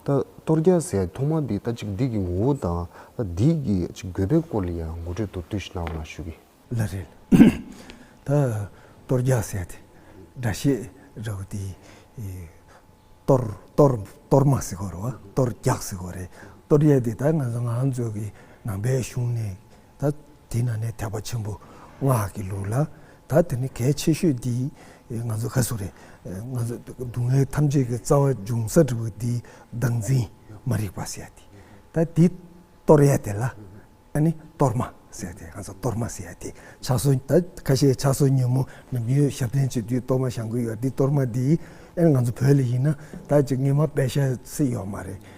གཏོར་རྒྱག་སའི་ཐོག་མ་དེ་ལྟ་ཅིག་འདི་གི་ངོ་བོ་དང་འདི་གི་དགོས་པའི་སྐོར་ལ་ཡང་ངོ་སྤྲོད་མདོར་བསྡུས་ཤིག་གནང་བ་ན་ཞུ་གི། ལ་རེད། ད་གཏོར་རྒྱག་སའི་དེ་འདྲ་ཤེས་རབ་པོ་དེ་གཏོར་གཏོར་གཏོར་མ་ཟེར་དགོས་རེད་བ་གཏོར་རྒྱག་ཟེར་དགོས་རེད། གཏོར་རྒྱག་དེ་ད་ང་ཚོ་ང་ཚོ་གི་ནང་པའི་གཞུང་ནས་ད་དེས་ན་ནས་ཐེག་པ་ཆེན་པོ་སྔགས་ཀྱི་ལུགས་ལ་ད་དེ་ནི་གལ་ཆེ་ཤོས་འདི་ང་ཚོ་ག་སུ་རེད་ང་ཚོ་སྡུག་བསྔལ་ཐམས་ཅད་ཀྱི་རྩ་བ་འབྱུང་ས་དྲུག་པོ་འདིའི་བདག་འཛིན་མ་རིག་པ་ཟེར་ཏེ་ད་འདི་གཏོར་ཡས་དེ་ལ་ཨ་ནི་གཏོར་མ་ཟེར་ཏེ་ང་ཚོ་གཏོར་མ་ཟེར་ཡས་དེ་ཕྱག་སྲོལ་ད་ཁ་ཤས་ཕྱག་སྲོལ་ཉོན་མོངས་ནམ་རྒྱུན་ཞབས་བརྟན་བྱེད་དུས་གཏོར་མ་བཞག་གི་ཡོད་འདི་གཏོར་མ་འདི་ཨ་ནི་ང་ཚོ་བོད་ལ་ཡིན་ན་ད་ཅིག་ངེས་མ་དཔེ་ཤ་སི་ཡོད་མ་རེད།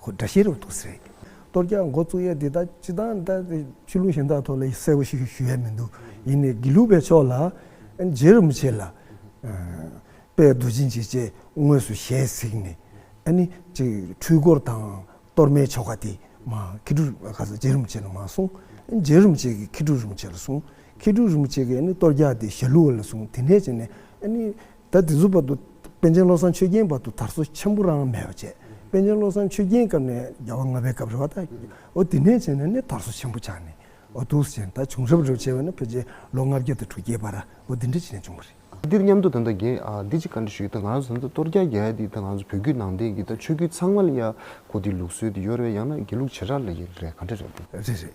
ཁོ་དགྲ་ཤེས་རབ་ཏུ་ཟེར། གཏོར་རྒྱག་མགོ་བཙུགས་ཡས་འདི་དག་ཅི་སྟངས་ལྟ་སྟེ། ཆོས་ལུགས་གཞན་དག་ཐོག་ལ་གསལ་བོ་ཞིག་ཞུ་ཡས་མི་འདུག་ཡིན་ནས་དགེ་ལུགས་པའི་ཕྱོགས་ལ་མཇལ་རུ་མི་བྱེད་ལ། དཔལ་རྡོ་རྗེ་འཇིགས་བྱེད་དངོས་སུ་ཞལ་གཟིགས་ནས། ཨ་ནི། འཁྲུལ་འཁོར་དང་གཏོར་མའི་ཆོ་ག་དེ། མཁས་གྲུབ་ལ་ཁ་ས་མཇལ་རུ་མི་བྱེད་ལ་མ་གསུང། མཇལ་རུ་མི་བྱེད་ཀྱི་མཁས་གྲུབ་རུ་མི་བྱེད་ལ་གསུང། མཁས་གྲུབ་རུ་མི་བྱེད་ཀྱི་ཨ་ནི་གཏོར་རྒྱག་དེ་ཞལ་ལུས་ལ་གསུང་དེ་ནས་བྱས་ནས་ཨ་ནི། ད་དེ་ཚོའི་བར་དུ་པཎ་ཆེན་བློ་བཟང་ཆོས་རྒྱན་བར་དུ་དར་སོ་ཆེན་པོ་རང་མེད་པར་བྱས། པཎ་ཆེན་བློ་བཟང་ཆོས་རྒྱན་སྐབས་ནས་རྒྱལ་བ་ལྔ་པའི་སྐབས་རེད་བ་དང། འོ་དེ་ནས་བྱས་ནས་ནི་དར་སོ་ཆེན་པོ་ཆགས་ནས། འོ་དུས་སུ་བྱས་ནས་ད་བྱུང་རབས་རེ་བ་བྱས་པ་ནི་ཕལ་ཆེར་ལོ་ལྔ་བརྒྱ་དང་དྲུག་བརྒྱའི་བར་འོ་དེ་འདྲ་བྱས་ནས་བྱུང་བ་རེད། འདིར་མཉམ་དུ་ད་ལྟ་རྒན་བདེ་སྐྱིད་བཀའ་འདྲི་ཞུས་ཡོད་ད་ང་རང་ཚོ་ད་ལྟ་སྟོར་རྒྱག་རྒྱག་ཡ་དེ་ད་ང་ཚོ་བོད་བརྒྱུད་ནང་བསྟན་གྱི་ད་ཆོས་བརྒྱུད་ཚང་མ་ལ་ཡ་གོ་དེ་ལུགས་སྲོལ་དེ་ཡོ་རེད་བ་ཡང་ན་དགེ་ལུགས་བྱེ་བྲག་ལ་ཡོད་རེད་བ་ག་འདྲ་རེད་བ། རེད་རེད།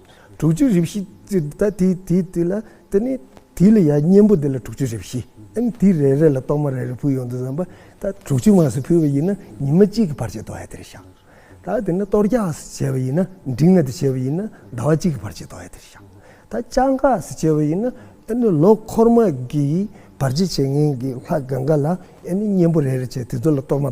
དྲུག་ཅུ་རེ་བཞི་ད་དེ་དེ་དེ་ལ་དེ་ནི་དེ་ལ་ཡང་གཉེན་པོ་དེ་ལ་དྲུག་ཅུ་རེ་བཞི་ཨན་དེ་རེ་རེ་ལ་གཏོར་མ་རེ་རེ་ཕུལ་ཡོང་དུ་བསམ་པ་ད་དྲུག་ཅུ་མ་སུ་ཕུལ་བ་ཡིན་ན་ཉི་མ་གཅིག་གི་བར་ཆད་དོ་ཨ་དེ་རེ་བཞག་ད་དེ་ནི་གཏོར་རྒྱག་སུ་བྱས་པ་ཡིན་ན་འབྲིང་ཨ་དེ་བྱས་པ་ཡིན་ན་ཟླ་བ་གཅིག་གི་བར་ཆད་དོ་ཨ་དེ་རེ་བཞག་ད་བཅའ་འགག་སུ་བྱས་པ་ཡིན་ན་ཨ་ནི་ལོ་འཁོར་མ་གི་བར་ཆད་བྱེད་ངན་གི་ལྷ་གངྒཱ་ལ་ཨ་ནི་གཉེན་པོ་རེ་རེ་བྱས་དེ་ཚོ་ལ་གཏོར་མ།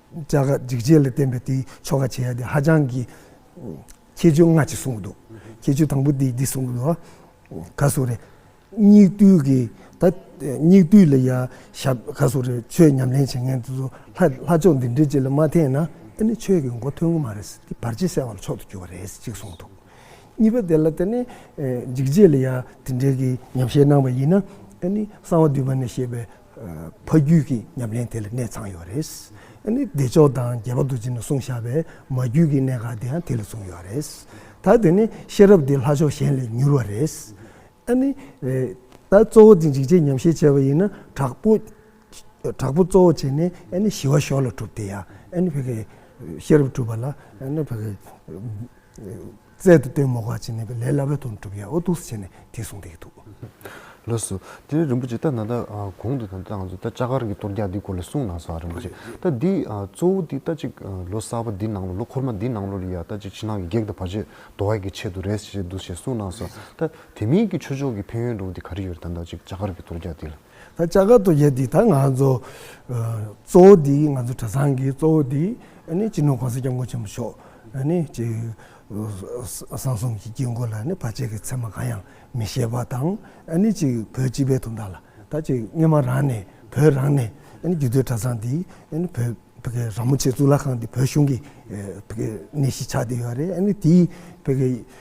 བཅའ་སྒ་སྒྲིག་ཆས་ལ་བརྟེན་པའི་དེའི་ཆོ་ག་བྱེད་ཡ་དེ་ཧ་ཅང་གི། ཁྱད་ཆོས་སྔ་ཕྱི་གསུང་གི་འདུག་ཁྱད་ཆོས་དང་པོ་དེ་འདི་གསུང་གི་འདུག་ག་གསུང་རེད། སྙིགས་དུས་ཀྱི་ད་སྙིགས་དུས་ལ་ཡ་ཞབས་ག་གསུང་རེད་ཆོས་ཉམས་ལེན་བྱེད་མཁན་དེ་ཚོ་ལྷ་ལྷ་ཕྱོགས་འདི་འདྲའི་ཅིག་ལ་མ་འཐེན་ན་དེ་ནི་ཆོས་ཀྱི་མགོ་ཐོན་གི་མ་རེད་ཟེར་དེ་བར་ཆད་བསལ་བ་ལ་མཆོག་ཏུ་གྱུར་བ་རེད་ཟེར་ཅིག་གསུང་འདུག་གཉིས་པ་དེ་ལ་དེ་ནི། འཇིགས་བྱེད་ལ་ཡ་དེ་འདྲའི་གི་ཉམས་བཞེས་གནང་བ་ཡིན་ན་དེ་ནི་གསང་བ་འདུས་པ་ནས་བཤད་པའི་ཕ་རྒྱུད་ཀྱི་ཉམས་ལེན་དེ་ལ་གནས་ཚང་ཡོད་རེད། བདེ་མཆོག་དང་རྒྱལ་བ་རྡོ་རྗེ་ནས་གསུངས་བཞག་པའི་མ་རྒྱུད་ཀྱི་གནད་འགག་དེ་ཡང་དེ་ལས་བཟུང་ཡོད་རེད། ད་དེ་ནི་ཤེས་རབ་དེ་ལྷ་ཕྱོགས་གཞན་ལས་མྱུར་བ་རེད། ད་གཙོ་བོ་དེ་འཇིགས་བྱེད་ཉམས་བཞེས་བྱས་པ་ཡིན་ན་དྲག་པོ་གཙོ་བོ་བྱས་ནས་ཞི་བ་ཞོར་ལ་གྲུབ་དེ་ཡང་ཤེས་རབ་གྲུབ་པ་ལ། རྩལ་དུ་སྟོན་མོ་ག་ཅི་ནས་པའི་ལས་སླ་བས་དོན་གྲུབ་ཡ་ཨོ་ཐུགས་སུ་བྱས་ནས་དེ་གསུངས་ཏེ་ཡིག་ཐུགས། ལགས་སོ། དེ་ནས་རིན་པོ་ཆེ་ད་ན་ད་གོང་དུ་དང་ད་ང་ཚོ་ད་ལྕགས་མཁར་གྱི་གཏོར་རྒྱག་འདིའི་སྐོར་ལ་གསུངས་གནང་སོང་རིན་པོ་ཆེ་ད་འདི་གཙོ་བོ་འདི་ད་ཅིག་ལོ་གསར་པ་འདི་ནང་ལོ་ལོ་འཁོར་མ་འདི་ནང་ལོ་རེ་ཡ་ད་ཅིག་ཕྱི་ནང་གི་བགེགས་དང་བར་ཆད་དོར་བ་ཡི་གི་ཆེད་དུ་རེད་ཞེས་འདུག་ཞེས་གསུངས་གནང་སོང་ད་དེ་མིན་གྱི་ཆོས་ཕྱོགས་ཀྱི་ཕན་ཡོན་འགྲོ་བ་འདི་ག་རེ་ཡོད་རེད་ད་ད་ཅིག་ལྕགས་མཁར་གྱི་གཏོར་རྒྱག་འདི་ལ། ད་ལྕགས་མཁར་དུ་ཡོད་དེ་ད་ང་ཚོ་གཙོ་བོ་དེ་ང་ཚོ་གྲྭ་ཚང་གི་གཙོ་བོ་དེ་ནི་སྤྱི་ནོར་གོང་ས་སྐྱབས་མགོན་ཆེན་པོ་མཆོག་ནི་སྤྱི་བསང་གསུམ་གྱི་དཀྱིལ་འཁོར་ལ་ནི་བར་ཆད་ཀྱི་མཚན་མ་གང་ཡང་མི་བཞེས་པ་དང་ནི་སྤྱི་བོད་སྤྱི་པའི་དུང་བརྡ་ལ་ད་ཅི་སྙེ་མ་རང་ནས་བོད་རང་ནས་ནི་རྒྱུད་སྟོད་གྲྭ་ཚང་དེ་ནི་བོད་ཀྱི་ར་མོ་ཆེ་གཙུག་ལག་ཁང་དེ་བོད་གཞུང་གི་ནི་གཞིས་ཆགས་དེ་ཡོད་རེད་ནི་དེའི་བོད་ཀྱི་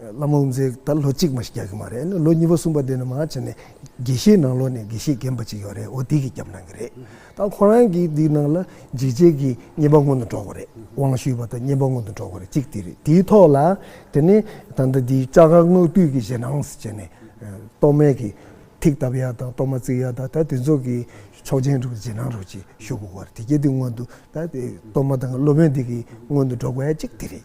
བླ་མ་དབུ་མཛད་ད་ལོ་གཅིག་མ་ཞིག་རྒྱག་གི་མ་རེད་ལོ་གཉིས་པ་གསུམ་པ་དེ་ནི་མང་ཆེ་ནས་དགེ་བཤེས་ནང་ལོགས་ནས་དགེ་བཤེས་རྒན་པ་ཅིག་ཡོད་རེད་འོ་དེ་གིས་རྒྱབ་གནང་གི་རེད་ད་ཁོ་རང་གིས་དེའི་ནང་ལ་འཇིགས་བྱེད་ཀྱི་བརྙན་པ་སྔོན་དུ་འགྲོ་དགོས་རེད་དབང་ཞུས་པ་དང་བརྙན་པ་སྔོན་དུ་འགྲོ་དགོས་རེད་གཅིག་དེ་རེད་དེའི་ཐོག་ལ་དེ་ནས་ད་ལྟ་དེའི་བཅའ་ཁག་སྔགས་བཏུས་ཀྱི་ཞེད་སྣང་བྱས་ནས་གཏོར་སྨན་གྱི་ཐིག་བཏབ་ཡ་དང་གཏོར་མ་བརྩིགས་ཡ་དང་ད་དེ་ཚོ་གི་ཆོག་མཆན་སྒྲུབ་ཀྱི་ཞེད་སྣང་རོགས་གྱིས་ཞུ་དགོས་པ་རེད་དེ་གལ་ཏེ་སྔོན་དུ་ད་གཏོར་མ་དང་གློ་སྨན་དེ་གིས་སྔོན་དུ་འགྲོ་དགོས་ཡ་གཅིག་དེ་རེད།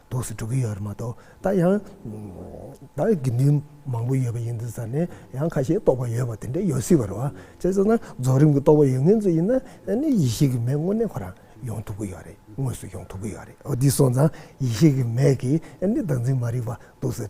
དུག་སེལ་འགྲོ་གི་ཡོད་རེད་མ་གཏོགས་ད་ཡང་ད་དགེ་འདུན་མང་པོ་ཡོད་པ་ཡིན་འདུག་ས་ནས་ཡང་ཁ་ཤས་རྟོགས་པ་ཡོད་པ་དེ་འདྲ་ཡོད་སྲིད་པ་རེད་བ་བྱས་སོང་ན་རྫོགས་རིམ་གྱི་རྟོགས་པ་ཡོད་ངེས་ཚོ་ཡིན་ན་ཡེ་ཤེས་ཀྱི་མེ་དངོས་གནས་ཁོ་རང་ཡོང་ཐུབ་ཀྱི་ཡོད་རེད་དངོས་སུ་ཡོང་ཐུབ་ཀྱི་ཡོད་རེད་འོ་འདི་སོང་ཙང་ཡེ་ཤེས་ཀྱི་མེ་གིས་ནི་བདག་འཛིན་མ་རིག་པ་དུག་སེལ།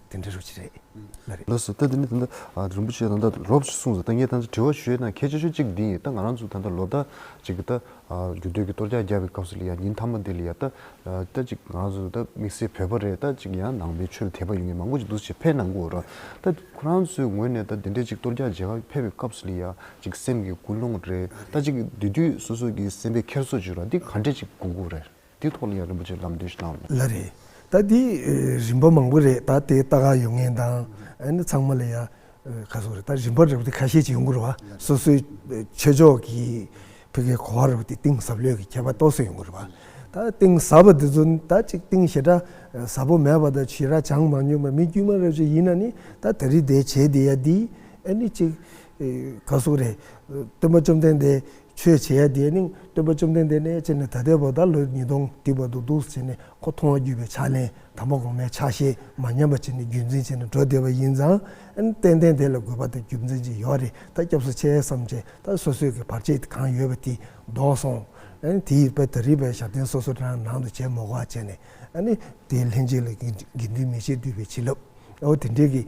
དེ་འདྲའི་རོ་གཅིག་རེད། ལ་རེད། ལགས་སོ་ད་དེ་ནི་ད་ལྟ་རིན་པོ་ཆེ་ད་ལྟ་རོབ་ཅིག་གསུངས་སོ་ད་ངས་ད་ལྟ་དྲི་བ་ཞུས་ན་གལ་ཆེ་ཤོས་གཅིག་འདི་ཡིན་ད་ང་རང་ཚོ་ད་ལྟ་ལོ་ཟླ་གཅིག་གི་ད་རྒྱུ་སྟོད་ཀྱི་གཏོར་རྒྱག་རྒྱག་པའི་སྐབས་སུ་ལ་ཡ་ཉིན་མཐའ་མ་འདི་ལ་ཡ་ད་ད་ཅིག་ང་རང་ཚོ་ད་དམིགས་བསལ་བོད་པ་རེད་ད་ཅིག་ཡང་ནང་པའི་ཆོས་ལ་དད་པ་ཡོད་མཁན་མང་པོ་ཅིག་འདུག་ཅེས་ཕས་གནང་གོ་ར་ད་ཁོ་རང་ཚོའི་ངོས་ནས་ད་དེ་འདྲའི་ཅིག་གཏོར་རྒྱག་རྒྱག་ཕེབས་པའི་སྐབས་སུ་ལ་ཡ་ཅིག་སེམས་ཀྱི་ཀུན་སློང་རེད་ད་ཅིག་དེ་དུས་སོ་སོ་ཀྱི་སེམས་པའི་འཁྱེར་སོ་ཅིག་ར་འདི་ག་འདྲས་ཅིག་དགོས་དགོས་རེད། དེའི་ཐོག་ལ་ཡང་རིན་པོ་ཆེས་ལམ་སྟོན་ཞིག་གནང་ཡོད། ལ་རེད། ད་དེ་རིན་པ་མང་པོ་རེད་ད་དེ་ལྟ་ག་ཡོད་ངེས་དང་ཨ་ནི་ཚང་མ་ལ་ཡང་ཁ་སོ་རེད་ད་རིན་པ་རེད་པ་དེ་ཁ་ཤས་ཀྱི་ཡོང་གི་རེད་བ་སོ་སོའི་ཆོས་ཕྱོགས་ཀྱི་བོད་ཀྱི་གོ་བ་རེད་པ་དེ་གཏིང་ཟབ་ལོས་ཀྱི་ཁྱད་པར་རྟོགས་སུ་ཡོང་གི་རེད་བ་ད་གཏིང་ཟབ་པ་དེ་ཚོ་ནི་ད་ཅིག་གཏིང་ཞེ་དྲག་ཟབ་པོ་མེད་པ་དང་ཞེ་དྲག་བྱང་མ་མྱོང་པའི་མི་དཀྱུས་མ་རེ་བཅས་ཡིན་ན་ནི་ད་དེ་རིགས་དེ་བྱས་དེ་ཡ་དེ་ཨ་ནི་ཅིག་ག་སོ་རེད་སྟོན་པ་བཅོམ་ལྡན་འདས། ཆོས་བྱེད་ཡ་དེས་ནི་སྟོན་པ་བཅོམ་ལྡན་འདས་ནས་ཅི་ནས་ད་ལྟའི་བར་དག་ལོ་ཉིས་སྟོང་སྡིག་པ་དུག་སྡུག་བྱས་ནས་ཁོ་མཐོང་བ་བརྒྱུད་པའི་ཕྱག་ལེན་དམ་པ་གོང་མའི་ཕྱག་བཞེས་མ་ཉམས་པ་བྱས་ནས་བརྒྱུད་འཛིན་བྱས་ནས་འགྲོ་བདེ་བ་ཡིན་ཙང། ཏན་ཏན་དེ་ལ་དགོས་པ་དང་རྒྱུ་མཚན་ཅི་ཡོད་རེ་ད་སྐྱབས་སུ་ཆས་སམ་ཅི་ད་སོ་སོས་ཀྱི་བར་ཆད་གང་ཡོད་པ་དེ་བཟློག་སོང། དེ་ཡིས་པད་ད་རི་པའི་ཞབས་བརྟན་སོ་སོ་རང་ནང་དུ་བྱས་མོ་ག་བྱས་ནས། དེའི་ལྷན་ཅིག་ལ་དགེ་འདུན་མི་ཕྱེད་འདུས་པའི་བྱིན་རླབས་འོ་དེ་འདྲས་ཀྱིས།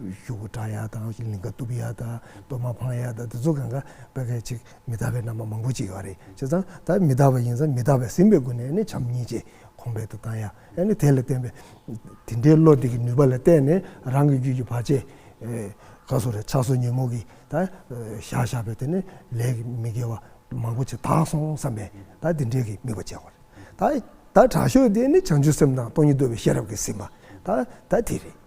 གཞུ་གུ་བཀྲ་ཡག་དང་ལིང་ག་གཏུབ་ཡག་དང་གཏོར་མ་འཕང་ཡག་དང་དེ་ཚོ་གང་ག་དཔེ་གལ་ཆེ་མི་དག་པའི་རྣམ་པ་མང་པོ་བྱེད་ཡོད་རེད་བྱས་ཙང་ད་མི་དག་པ་ཡིན་ཙང་མི་དག་པའི་སེམས་པའི་སྒོ་ནས་ནི་བྱམས་སྙིང་རྗེ་གོང་འཕེལ་དུ་བཏང་ཡ་ཨེ་ནི་དེ་ལ་བརྟེན་པའི་དེ་འདྲའི་བློ་འདི་གི་ནུས་པ་ལ་བརྟེན་ནས་རང་གི་རྒྱུད་ཀྱི་བར་ཆད་ག་སོ་རེ་ཆགས་སོ་ཉོན་མོངས་ཀྱིས་ད་བཞག་བཞག་པའི་དེ་ནི་ལས་ཀྱི་མི་དགེ་བ་མང་པོ་བྱས་དག་སོང་བསམ་པས་ད་དེ་འདྲའི་གི་དམིགས་པ་བྱས་ཡོད་རེད་ད་ད་དྲག་ཤོས་དེ་ནི་བྱང་ཆུབ་སེམས་དང་སྟོང་ཉིད་རྡོལ་བའི་ཤེས་རབ་ཀྱི་སེམས་པ་ད་ད་དེ་རེད།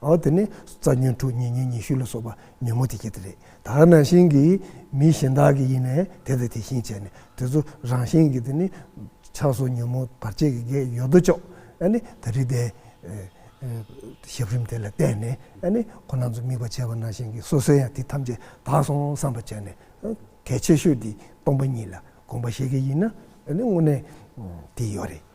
འོ་དེ་ནི་རྩ་ཉོན་དྲུག་ཉེ་ཉོན་ཉི་ཤུ་ལ་སོགས་པ་ཉོན་མོངས་དེ་སྐྱེ་དེ་རེད། ད་ནང་བཞིན་གྱི་མི་གཞན་དག་གི་ཡིན་ནས་དེ་དང་དེ་བཞིན་བྱས་ནས་དེ་ཚོ་རང་བཞིན་གྱི་དེ་ནི་ཆགས་སོགས་ཉོན་མོངས་བར་ཆད་ཀྱི་གེགས་ཡོད་དོ་ཅོག་ཨ་ནི་ད་རིག་པའི་ཞབས་རིམ་དེ་ལ་བརྟེན་ནས་ཨ་ནི་ཁོ་ན་ཚོ་དམིགས་པ་བྱས་པ་ནང་བཞིན་གྱི་སོ་སོའི་ཡང་དེ་ཐམས་ཅད་དག་སོང་བསམ་པ་བྱས་ནས་གལ་ཆེ་ཤོས་དེ་སྟོང་པ་ཉིད་ལ་དགོངས་པ་བཞེས་གི་ཡིན་ན་ཨ་ནི་དངོས་གནས་དེ་ཡོད་རེད།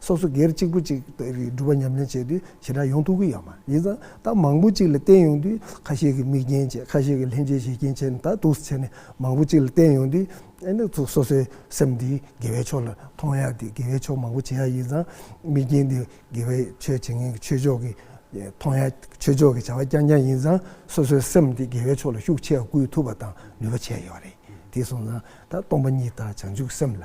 སོ་སོ་སྒེར་གཅིག་པུ་གཅིག་དཔེ་རིས་སྒྲུབ་པ་ཉམས་ལེན་བྱས་དུས་ཞེ་དྲག་ཡོང་ཐུབ་ཀྱི་ཡོད་མ་རེད། ཡིན་ཙང་ད་མང་པོ་གཅིག་ལ་བརྟེན་ཡོང་དུས་ཁ་ཤས་ཀྱིས་མིག་རྒྱན་བྱས་ཁ་ཤས་ཀྱིས་ལྷན་སྐྱེས་ཞེ་རྒྱན་བྱས་ནས་ད་དུས་སུ་བྱས་ནས་མང་པོ་གཅིག་ལ་བརྟེན་ཡོང་དུས། ཨེ་ན་སོ་སོའི་སེམས་འདི་དགེ་བའི་ཕྱོགས་ལ་ཐོངས་ཡ་དེ་དགེ་བའི་ཕྱོགས་མང་པོ་བྱེད་ཡ་ཡིན་ཙང་མིག་རྒྱན་འདི་དགེ་བའི་ཆོས་བྱེད་མཁན་གྱི་ཆོས་ཕྱོགས་ཀྱི་ཐོངས་ཡ་ཆོས་ཕྱོགས་ཀྱི་བྱ་བ་རྐྱང་རྐྱང་ཡིན་ཙང་སོ་སོའི་སེམས་འདི་དགེ་བའི་ཕྱོགས་ལ་ཤུགས་ཆེ་བ་བསྐུལ་ཐུབ་པ་དང་ནུས་པ་ཆེ་ཡོད་རེད་དེ་སོང་ཙང་ད་སྟོང་པ་ཉིད་དང་བྱང་ཆུབ་སེམས་ལ།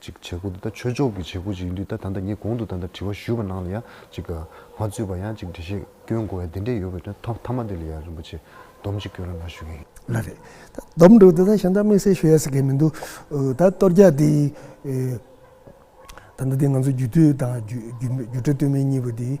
ཅིག་བྱེད་སྒོ་འདི་ད་ཆོས་ཕྱོགས་ཀྱི་བྱེད་སྒོ་ཅིག་ཡིན་དུས་ད་ད་ལྟ་ངས་གོང་དུ་ད་ལྟ་དྲི་བ་ཞུས་པ་ནང་ལ་ཡང་ཅིག་མ་རྩོད་པར་ཡང་ཅིག་འདྲི་བཤད་སྐྱོན་གོ་བའི་དེ་འདྲས་ཡོད་པའི་དོན་ཐོག་མཐའ་མ་དེ་ལ་ཡང་རིན་པོ་ཆེས་སྡོམ་གཅིག་སྐྱོན་ར་ལ་ཞུ་གི་ཡིན། ལ་རེད། ད་སྡོམ་འགྲོ་འདི་ད་གཞན་དག་དམིགས་བསལ་ཞུ་ཡ་ཟེར་གི་མི་འདུག་ད་གཏོར་རྒྱག་འདི་ད་ལྟ་འདི་ང་ཚོ་རྒྱུད་སྟོད་དང་རྒྱུད་སྒྲོལ་སྟོད་སྨད་གཉིས་པོ་འདི།